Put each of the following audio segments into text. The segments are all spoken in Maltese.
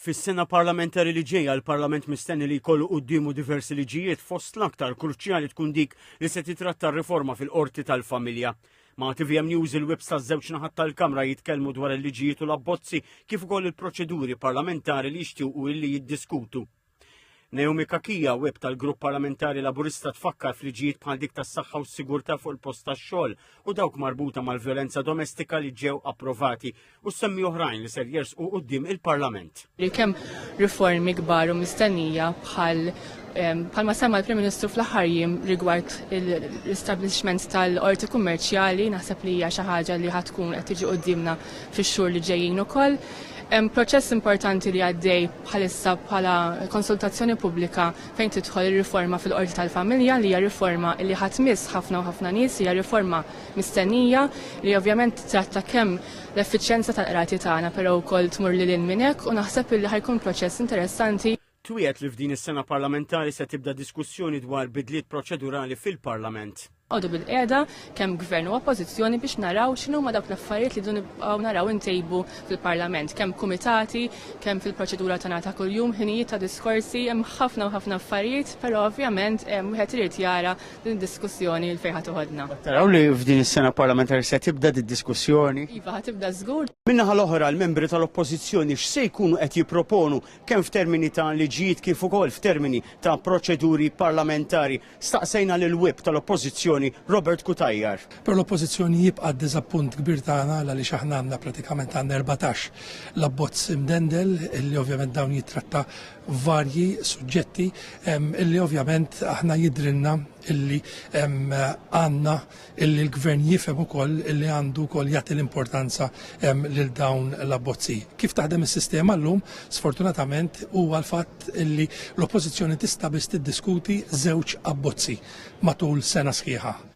Fis-sena parlamentari li ġejja l-Parlament mistenni li jkollu quddiemu diversi liġijiet fost l-aktar kruċjali tkun dik li se titratta r-riforma fil-qorti tal-familja. Ma' TVM News il-webs taż-żewġ naħat tal-Kamra jitkellmu dwar il-liġijiet u l-abbozzi kif ukoll il-proċeduri parlamentari li jixtiequ illi jiddiskutu. Naomi Kakija, web tal-Grupp Parlamentari Laburista tfakkar fliġijiet bħal dik tas-saħħa u s-sigurtà fuq il-post tax-xogħol u dawk marbuta mal-vjolenza domestika li ġew approvati u semmi oħrajn li ser jersqu quddiem il-Parlament. Kemm riformi kbar u mistennija bħal bħalma semma l-Prim Ministru fl-aħħar jiem rigward l-establishment tal-qorti kummerċjali naħseb li hija xi ħaġa li ħatkun qed tiġi quddiemna fix-xhur li ġejjin ukoll. Hemm proċess importanti li għaddej bħalissa bħala konsultazzjoni pubblika fejn tidħol ir-riforma fil-Qorti tal-Familja li hija riforma li ħa tmiss ħafna u ħafna nies, hija riforma mistennija li ovvjament tittratta kemm l-effiċjenza tal-qrati tagħna però wkoll tmur lil hinn minn hekk u naħseb illi ħa jkun proċess interessanti. Twiegħed li f'din is-sena parlamentari se tibda diskussjoni dwar bidliet proċedurali fil-Parlament. Noqogħdu bilqiegħda kemm Gvern u Oppożizzjoni biex naraw x'inhuma dawk l-affarijiet li rridu nibqgħu naraw intejbu fil-Parlament, kemm kumitati, kemm fil-proċedura tagħna ta' kuljum, ħinijiet ta' diskorsi, hemm ħafna u ħafna affarijiet, però ovvjament wieħed irid jara din id-diskussjoni l-fejn ħa toħodna. Qed taraw li f'din is-sena parlamentari se tibda did-diskussjoni? Iva, ħa tibda żgur. Min-naħa l-oħra, l-membri tal-Oppożizzjoni x'se jkunu qed jipproponu kemm f'termini ta' liġijiet kif ukoll f'termini ta' proċeduri parlamentari? Staqsejna lill-Whip tal-Oppożizzjoni Robert Cutajar. Però l-Oppożizzjoni jibqa' d-diżappunt kbir tagħna għaliex aħna għandna pratikament għandna erbatax l-abbozz imdendel illi ovvjament dawn jittratta varji suġġetti illi ovvjament aħna jidhrilna illi għandna illi l-Gvern jifhem ukoll illi għandu wkoll jagħti l-importanza lil dawn l-abbozzi. Kif taħdem is-sistema llum, sfortunatament huwa l-fatt illi l-Oppożizzjoni tista' biss tiddiskuti żewġ abbozzi matul sena sħiħa.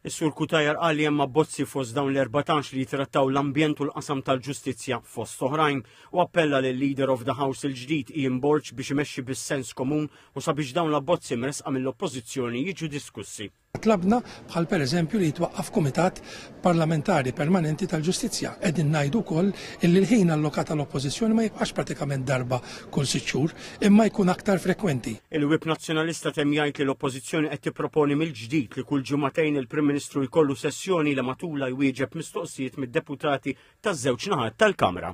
Is-Sur Cutajar qal li hemm abbozzi fost dawn l-14 li jitrattaw l-ambjent u l-qasam tal-ġustizzja fost oħrajn u appella lil Leader of the House il-ġdid Ian Borg biex imexxi bis-sens komun u sabiex dawn l-abbozzi mresqa mill-Oppożizzjoni jiġu diskussi. Tlabna, bħal pereżempju, li jitwaqqaf kumitat parlamentari permanenti tal-ġustizzja. Qegħdin ngħidu wkoll illi l-ħin allokat għal oppożizzjoni ma jibqax pratikament darba kull sitt xhur, imma jkun aktar frekwenti. Il-Whip Nazzjonalista temm jgħid li l-Oppożizzjoni qed tipproponi mill-ġdid li kull ġimagħtejn il-Prim Ministru jkollu sessjoni li matulha jwieġeb mistoqsijiet mid-deputati taż-żewġ naħat tal-Kamra.